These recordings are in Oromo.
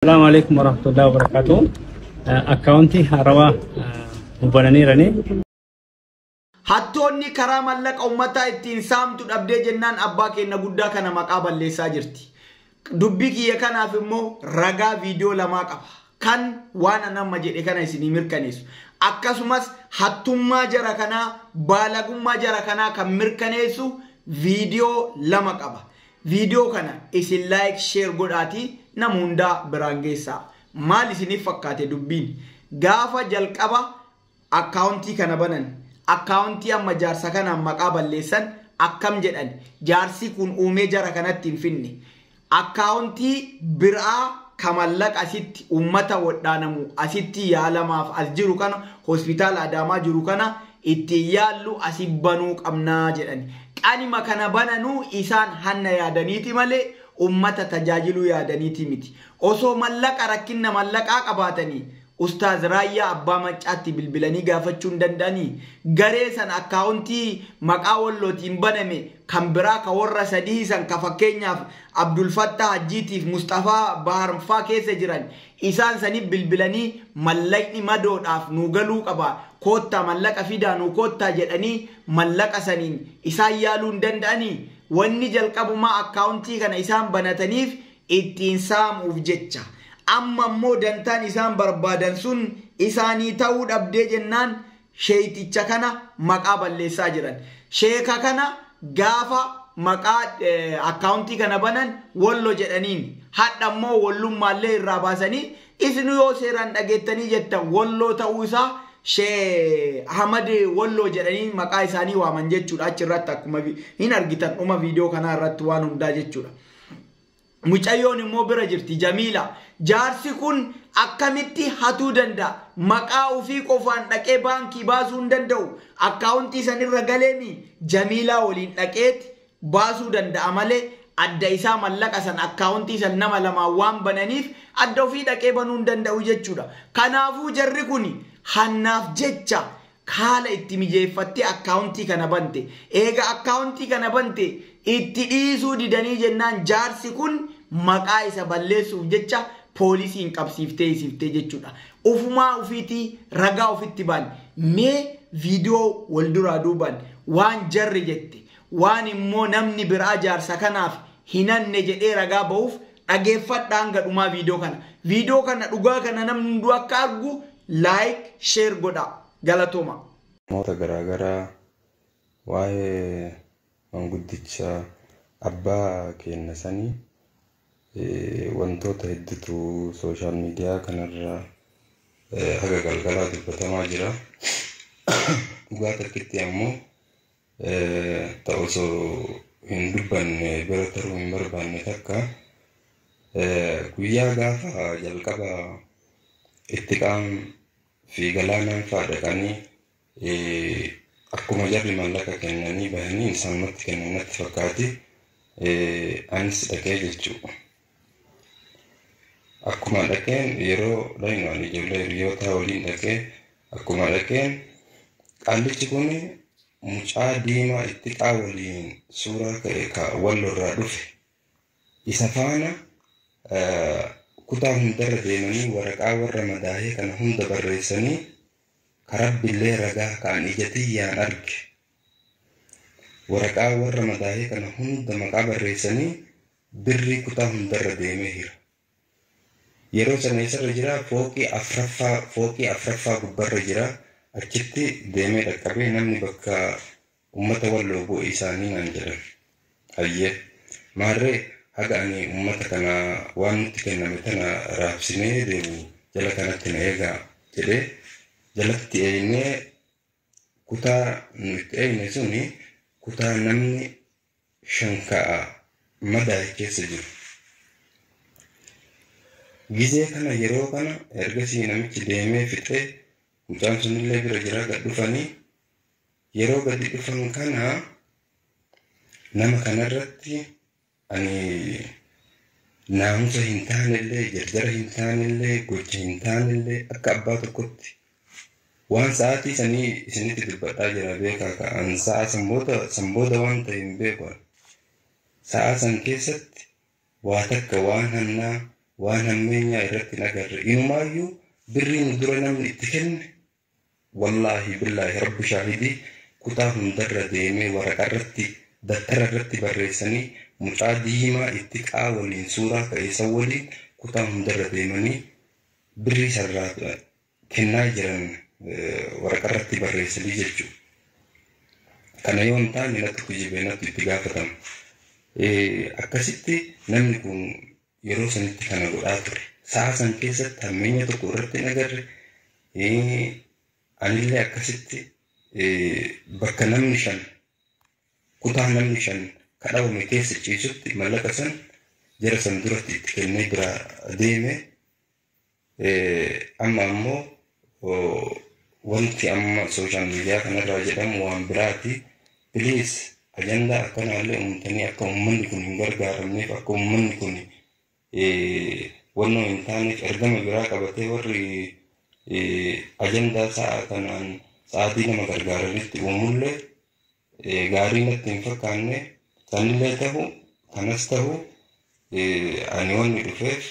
Assalamu alaikum warahmatullahi wabarakatuh. Akkaawuntii haarawaa nu bananiiranii. Hattoonni karaa mallaqa ummataa ittiin saamtu dhabdee jennaan abbaa keenna guddaa kana maqaa balleessaa jirti. Dubbii kiyya kanaaf immoo ragaa viidiyoo lamaa qaba. Kan waan an amma jedhe kana isinii mirkaneessu. Akkasumas hattummaa jara kanaa, baalagummaa jara kanaa kan mirkaneessu viidiyoo lama qaba. Video kana isin like share godhaatii nama hundaa biraan geessaa. Maal isinif fakkaate dubbiin? Gaafa jalqaba Account kana banan Account amma jaarsa kanaan maqaa balleessan akkam jedhan jaarsii kun uumee jara kanatti hin finne. Account biraa ka mallaqa asitti ummata wodhaanamu asitti yaalamaaf as jiru kana hospitaala Adaamaa jiru kana ittiin yaallu asi banuu qabna jedhani. Qanima kana bananu isaan hanna yaadaniiti malee ummata tajaajiluu yaadaniiti miti. Osoo mallaqa rakkinna mallaqaa qabaatani Ustaaz Raayyaa Abbaa Maccaatti bilbilanii gaafachuu hin danda'ani? Garee san akkaawontii maqaa Wallootiin baname kan biraa ka worra sadihii san ka fakkeenyaaf Abdulfattaa Hajjiitiif Musxafaa Baharnfaa keessa jiran Isaan saniif bilbilanii mallaqni madoodhaaf nuu galuu qaba koottaa mallaqa fidaa nuu koottaa jedhanii mallaqa saniin isaan yaaluu hin danda'anii? Wanni jalqabumaa akkaawuntii kana isaan banataniif ittiin saamuuf jecha. Amma immoo dantaan isaan barbaadan sun isaanii ta'uu dhabdee jennaan sheeyxicha kana maqaa balleessaa jiran. Sheeka kana gaafa maqaa akkaawuntii kana banan wollo jedhaniin. Hadha immoo wollummaallee irraa baasanii isnu yoo seeraan dhageettanii jettan wolloo ta'uu isaa she Ahmad wolloo jedhanii maqaa isaanii waaman jechuudha achi irratti akkuma hin argitan dhuma viidiyoo kanaa irratti waan hundaa jechuudha. Mucayyoon immoo bira jirti Jamiila. Jaarsi kun akkamitti hatuu danda'a? Maqaa ofii qofaan dhaqee baankii baasuu hin danda'u. Akkaawuntii san irra galeen Jamiilaa waliin dhaqeeti baasuu danda'a malee adda isaa mallaqa san akkaawuntii san nama lamaan waan bananiif adda ofii dhaqee banuu hin danda'u jechuudha. Kanaafuu jarri kun Hannaaf jecha haala itti mijeeffattee akkaawuntii kana bante. Eega akkaawuntii kana bante itti dhiisuu didanii jennaan jaarsi kun maqaa isa balleessuuf jecha poolisiin qabsiiftee hisiftee jechuudha. Ufumaa ufiitii ragaa ufitti baan. Mee viidiyoo wal duraa duubaan waan jarri jette waan immoo namni biraa jaarsa kanaaf hin hanne jedhee ragaa bahuuf Dhageeffadhaa hanga dhumaa viidiyoo kana. Viidiyoo kana dhugaa kana namni hunduu akka argu like, share godhaa. Galatooma. Namoota garaagaraa waa'ee manguddicha abbaa keenna sanii wantoota heddutu social media kanarra haga galgalaa dubbatamaa jira. Dhugaa takkitti ammoo ta osoo hin dubbanne bira taruu hin barbaanne takka guyyaa gaafa jalqaba itti qaan fi galaanaan faa dhaqanii akkuma jarri mallaqa kennanii bahanii isaanumatti kennan natti fakkaate anis dhaqee jechuudha. Akkuma dhaqeen yeroo dhaqnu ani ijoollee hiriyootaa waliin dhaqee akkuma dhaqeen qaallichi kun mucaa diimaa itti xaa waliin suuraa ka'e ka wallorraa dhufe isa faana eh, kutaa hundarra deemanii waraqaa warra madaahee kana hunda barreessanii ka rabbillee ragaa ka'an ija tiyyaan arge waraqaa warra madaahee kana hunda maqaa barreessanii Birrii kutaa hundarra deemee hira. Yeroo sana eessarra jira? Fooqii afraffaa fooqii afraffaa gubbarra jira. Achitti deemee dhaqqabee namni bakka ummata walloo bu'e isaanii naan jedhan. Hayyee. Maarree haga ani ummata kana waan nutti kenname tana raabsinee deemu jala kanatti na eegaa jedhee jalatti eeynee kutaa nu itti eeyne suni kutaa namni 5 ka'a madaa'e keessa jiru. Gizee kana yeroo kana ergasii namichi deemee fixee mucaan sunillee bira jira gad dhufanii yeroo gadi dhufan kana nama kanarratti ani naamusa hin taanellee jarjara hin taanellee gocha hin taanellee akka abbaa tokkotti Waan sa'aatii sanii isinitti dubbadhaa jira beekaa kaa an sa'aa san booda san booda waan ta'e hin beeku an sa'aa san keessatti waa takka waan hannaa waan hammeenyaa irratti hin agarre inumaayyuu birrii nu dura namni itti kenne wallaahi billaahi rabbi shaahidii kutaa hundarra deemee waraqa irratti dattara irratti barreessanii mucaa diimaa itti qaa waliin suuraa ka'eessan waliin kutaa hundarra deemanii birrii sarraa kennaa jiran waraqaa irratti barreessanii jechuudha. Kana yoo hin taane natti kijibee natti itti gaafatamu. Akkasitti namni kun yeroo sanitti kana godhaa ture. Sa'a san keessatti hammeenya tokko irratti hin agarre. Anillee akkasitti bakka namni shan kutaa namni shan kadhawame keessa ciisutti mallaqa san jara san duratti itti kennee biraa deeme Amma ammoo wanti amma sooshaal miidiyaa kanarraa jedhamu waan biraati. Piliis ajandaa akkanaallee uumtanii akka uummanni kun hin gargaaramneef akka uummanni kun wannoo hin taaneef ergama biraa qabatee warri ajandaa sa'a kanaan sa'aatii nama gargaaranitti uumullee gaarii natti hin fakkaanne sanillee ta'u kanas ta'u ani wanni dhufeef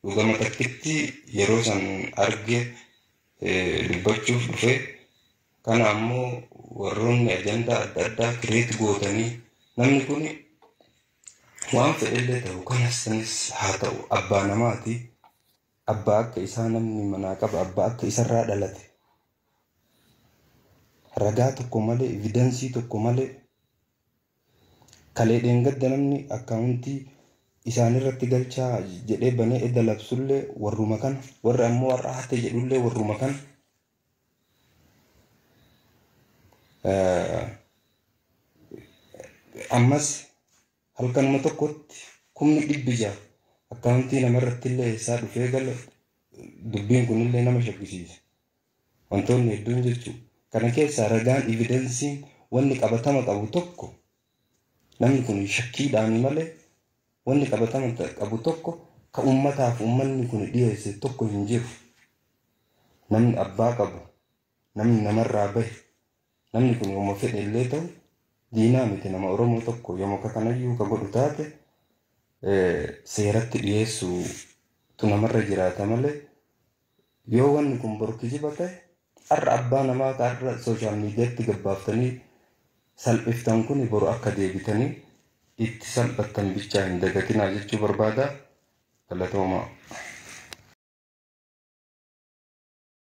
Dhugama takkitti yeroo san arge dubbachuuf dhufe. Kana ammoo warroonni ajandaa adda addaa kireet gootanii namni kun waan fedhellee ta'u kanas sanis haa ta'u abbaa namaati. Abbaa akka isaa namni manaa qaba abbaa akka isarraa dhalate. Ragaa tokko malee evidensii tokko malee Kalee dheengadda namni akkaawuntii isaanirratti galchaa jedhee banee edda labsullee warruma kana warri ammoo har'a hatte jedhullee warruma kana ammas halkanuma tokkotti kumni dhibbi ja'a akkaawuntii namarrattillee eessaa dhufee gala dubbiin kunillee nama shakkisiisa. Wantoonni hedduun jechuudha. Kana keessaa ragaan, evidensiin, wanni qabatama qabu tokko namni kun shakkiidhaani malee wanni qabatama ta- qabu tokko ka ummataaf ummanni kun dhiyeesse tokko hin jiru. Namni abbaa qabu, namni namarraa bahe, Namni kun yooma fedhe illee ta'u diinaa miti nama Oromoo tokko yooma ka kanayyuu ka godhu taate seeratti dhiyeessuutu namarra jiraata malee yoo wanni kun boru kijiba ta'e har'a abbaa namaa ka har'a sooshaal miidiyaatti gabbaaftanii salphiftan kun boru akka deebitanii itti salphattan bichaa hin dagatinaa jechuu barbaada galatoomaa.